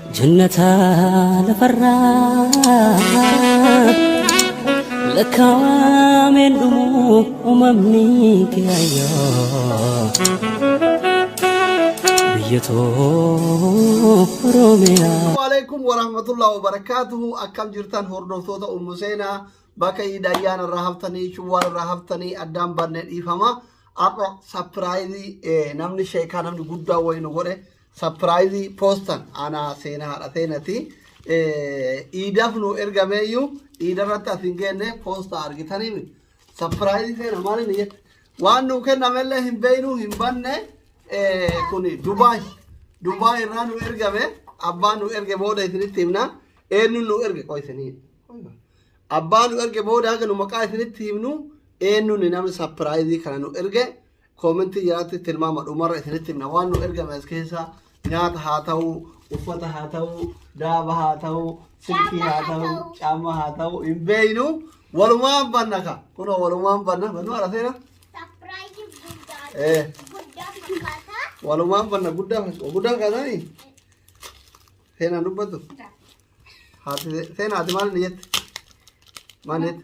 Jannata lafarraa lakkaa'ameen dhumu uumamni kiyaayyoo biyya too Oromiyaa. Waalaikum warahmatullahi wabarakatuhu akkam jirtan hordoftoota ummu seenaa bakka iidayyaan irraa haftanii shawwaal irraa haftanii addaan baanne dhiifama har'a sapiraayizii namni sheekaa namni guddaa wayii nu godhe Sapiraayizi poostan anaa seena haadha seenati. Iidaf nu ergameeyyuu iidarratti as hin geenne poosta argitanii miti. Sapiraayizi seena maal inni jette? Waan nuu kennamellee hin beeknu hin banne kun Dubaay. Dubaay irraa nu ergame abbaan nu erge booda isinitti himna. Eenyuun nu erge qoy isinii. Abbaan nu erge booda hanga nu maqaa isinitti himnu eenyuun namni sapiraayizii kana nu erge Koomentii jalatti tilmaama dhumarra isinitti himna waan nu ergame as keessa nyaata haa ta'u uffata haa ta'u daaba haa ta'u silkii haa ta'u caamma haa ta'u hin beeynu walumaan banna ka kunoo walumaan banna bannu ala seena Sapiraayiziin guddaa ee guddaa fakkaata. walumaan banna guddaa fas- guddaa kaasanii seenaan dubbatu haati seenaa ati maal ni jette maal ni jette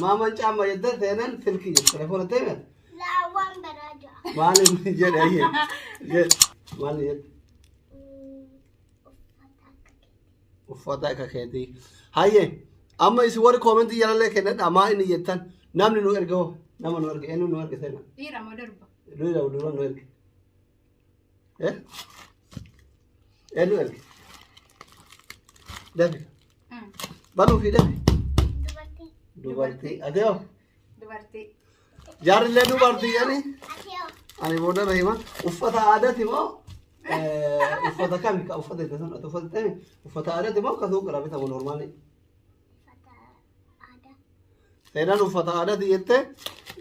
Maaman caamma jedda seenan silki jedhe telefoona teemen. Laawwan baraa ja'a. Maalin jedhe ayyee. Jedhe maalin jedhe. Uffata akka keetii. Hayyee amma isin warri koomentii jalallee kennadha maa inni jettan namni nu erga hoo nama nu erga eenyu nu erga seenan. Dhiira moo durba? Dura dura nu erge. Eh? Eenyu erge? Dafi. Banuu fi dafi. Dubartii. Dubartii. Ati hoo? Dubartii. Jaarrillee dubartii jedhi. Ati hoo? Ani booda na hima. Uffata aadaati moo? eh, Uffata kami? Ka uffata itti sun ati uffata ta'e uffata aadaati moo ka suuqirraa bitamu noormaali? Seenaan uffata aadaati jette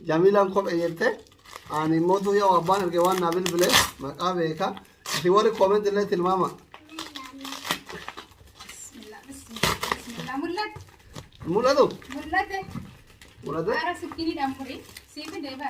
Jamiilaan kophee jette ani immoo tuu yoo abbaan erge waan naa bilbile maqaa beeka isin warri koomenti illee tilmaama mul'atu mul'ate. mul'ate Ara sikkiinidhaan muri. Siif deebi'a.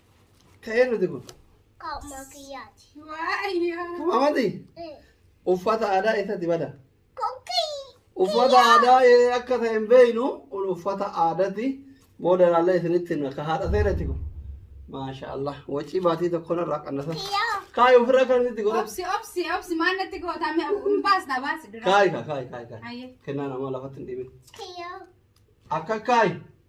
Ka'ee nuti kun. Qaama kiyyaati. Amati uffata aadaa isatti bada. Kokkii. Uffata aadaa eh, akka ta'e hin beeknu kun uffata aadaati. Booda ilaallee isinitti himna ka haadha seerati kun. Maasha Allah. Wacii baatii tokko narraa qannasa. Kiyyaa. Kaayi ofirra kan itti godhatu. Obsi obsi obsi maal natti goota mee hin baasna baasi dura. Kaayi kaa kaayi kaayi kaayi. Hayyee. Kennaa namaa lafatti hin dhiibin. Kiyyaa. Akka kaayi.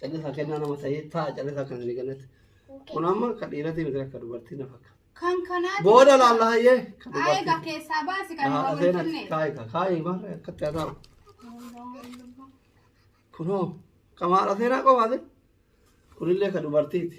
Callisaa kennaa nama ta'ee ta'a callisaa kan inni kennate. Kun amma kan dhiiratii miti akka dubartii na fakka. Kan kanaati. Booda laalla hayyee. kan Haa dubartii. egaa keessaa baasi kan Haa, hin seenaa, wajjinne. kaa'i kaa, kaa'i maarree akkatti haa taa'u. Kunoo qamaadha seenaa qofaati. Kunillee kan dubartiiti.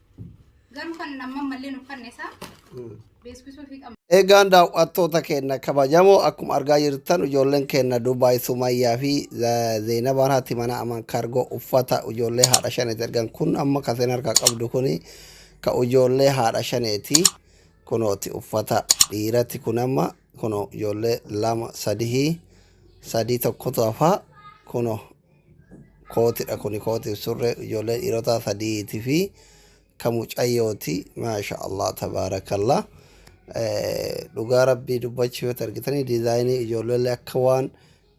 Garuu kan amma malleen uffanne isaa beeksisuu fi qabna. Eegaan daawwattoota keenya kabajamoo akkuma argaa jirtan ijoolleen keenya Dubaay Sumayyaa fi Zeenabaan haati mana aman kaargoo uffata ijoollee haadha shaneeti ergan kun amma kan seen harkaa qabdu kun ka ijoollee haadha shaneeti kunooti uffata dhiirati kun amma kuno ijoollee lama sadihii sadii tokkotu hafaa kuno Kootidha kuni kootiif surree ijoollee dhiirotaa sadiiti fi ka mucayyooti maasha allah tabaarakallah dhugaa rabbii dubbachuu yoo argitanii diizaayinii ijoolleellee akka waan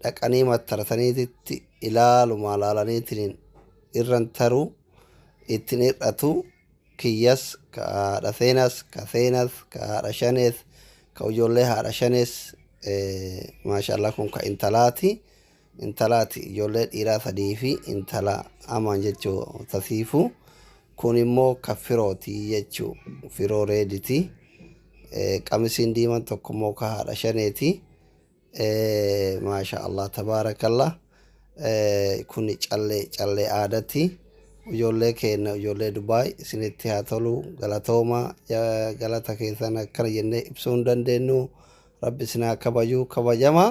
dhaqanii mattarataniititti ilaalumaa laalaniitiin irran taruu ittiin hir'atu kiyyas ka haadha seenas ka seenas ka haadha shanees ka ijoollee haadha shanees maasha allah kun ka intalaati. intalaati ijoollee dhiiraa sadii fi intala amaan jechuu tasiifu kun immoo ka firooti jechuu firoo reediti qamisiin diiman tokko immoo ka haadha shaneeti maasha allah tabaarakallah kun callee callee aadati ijoollee keenna ijoollee dubaay isinitti haa tolu galatooma galata keessan akkana jennee ibsuu hin dandeenyu rabbi isin haa kabaju kabajamaa